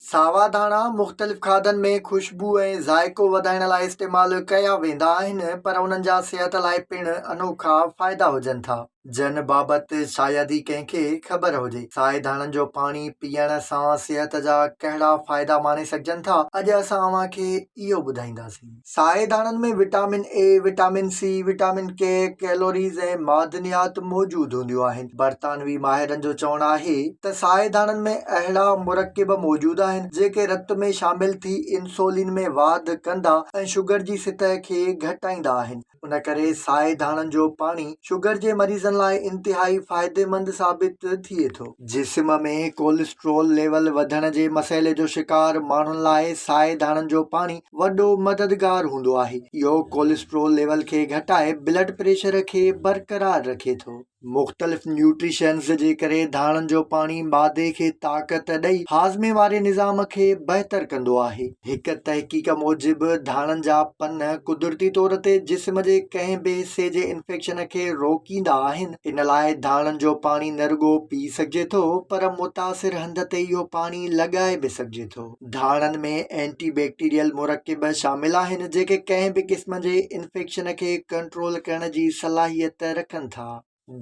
ساوا ڌاڻا مختلف کاڌن ۾ خوشبو ۽ ذائقو وڌائڻ لاء استعمال ڪيا ويندا آهن پر انهن جا صحت لاء پڻ انوکا فائدا هجن ٿا جن بابت شايد ئي ڪنهن کي خبر هجي. سائي ڌاڻن جو پاڻي پيئڻ سان صحت جا ڪهڙا فائدا ماڻي سگهجن ٿا اڄ اسان اوهان کي اهو ٻڌائينداسين. سائي ڌاڻن ۾ vitamin A, vitamin C, vitamin K, calories ۽ معدنيات موجود هونديون آهن. برطانوي ماهرن جو چوڻ آهي ته سائي ڌاڻن ۾ اهڙا مرڪب موجود آهن جيڪي رت ۾ شامل ٿي انسولين ۾ واڌ ڪندا ۽ شگر جي سطح کي گهٽائيندا آهن. ان ڪري سائي ڌاڻن جو پاڻي شگر جي مريضن لاء انتهائي فائديمند ثابت ٿئي ٿو. جسم ۾ ڪولسٽرول ليول وڌڻ جي مسئلي جو شڪار ماڻهن لاء سائي ڌاڻن جو پاڻي وڏو مددگار هوندو آهي. اهو ڪولسٽرول ليول کي گهٽائي بلڊ پريشر کي برقرار رکي ٿو. مختلف نيوٽريشنز جي ڪري ڌاڻن جو پاڻي معدي کي طاقت ڏئي هاضمي واري نظام کي بهتر ڪندو آهي. هڪ تحقيق موجب ڌاڻن جا پن قدرتي طور تي جسم جي ڪنهن به حصي جي انفيڪشن کي روڪيندا آهن ان لاء ڌاڻن جو پاڻي نه رڳو پي سگهجي ٿو پر متاثر هنڌ تي اهو پاڻي لڳائي به سگهجي ٿو. ڌاڻن ۾ اينٽي بيڪٽيريل مرڪب شامل آهن جيڪي ڪنهن به قسم جي انفيڪشن کي ڪنٽرول ڪرڻ جي صلاحيت رکن ٿا.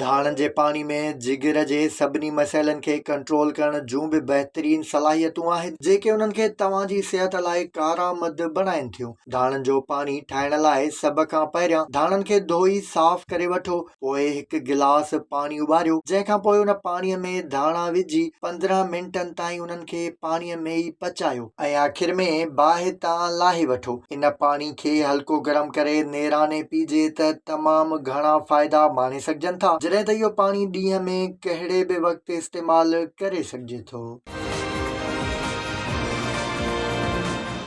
ڌاڻن جي پاڻي ۾ جگر جي سڀني مسئلن کي ڪنٽرول ڪرڻ جون به بهترين صلاحيتون آهن جيڪي انهن کي توهان جي صحت لاء ڪارآمد بڻائين ٿيون. ڌاڻن جو پاڻي ٺاهڻ لاء سڀ کان پهريان ڌاڻن کي ڌوئي صاف ڪري وٺو پوء هڪ گلاس پاڻي اٻاريو جنهن کان پوء ان پاڻي ۾ ڌاڻا وجهي پندرهن منٽن تائين انهن کي پاڻي ۾ ئي پچايو ۽ آخر ۾ باهه تان لاهي وٺو ان پاڻي کي هلڪو گرم ڪري نيراني پيجي ته تمام گهڻا فائدا ماڻي سگهجن ٿا جڏهن ته اهو پاڻي ڏينهن ۾ ڪهڙي به وقت استعمال ڪري سگهجي ٿو.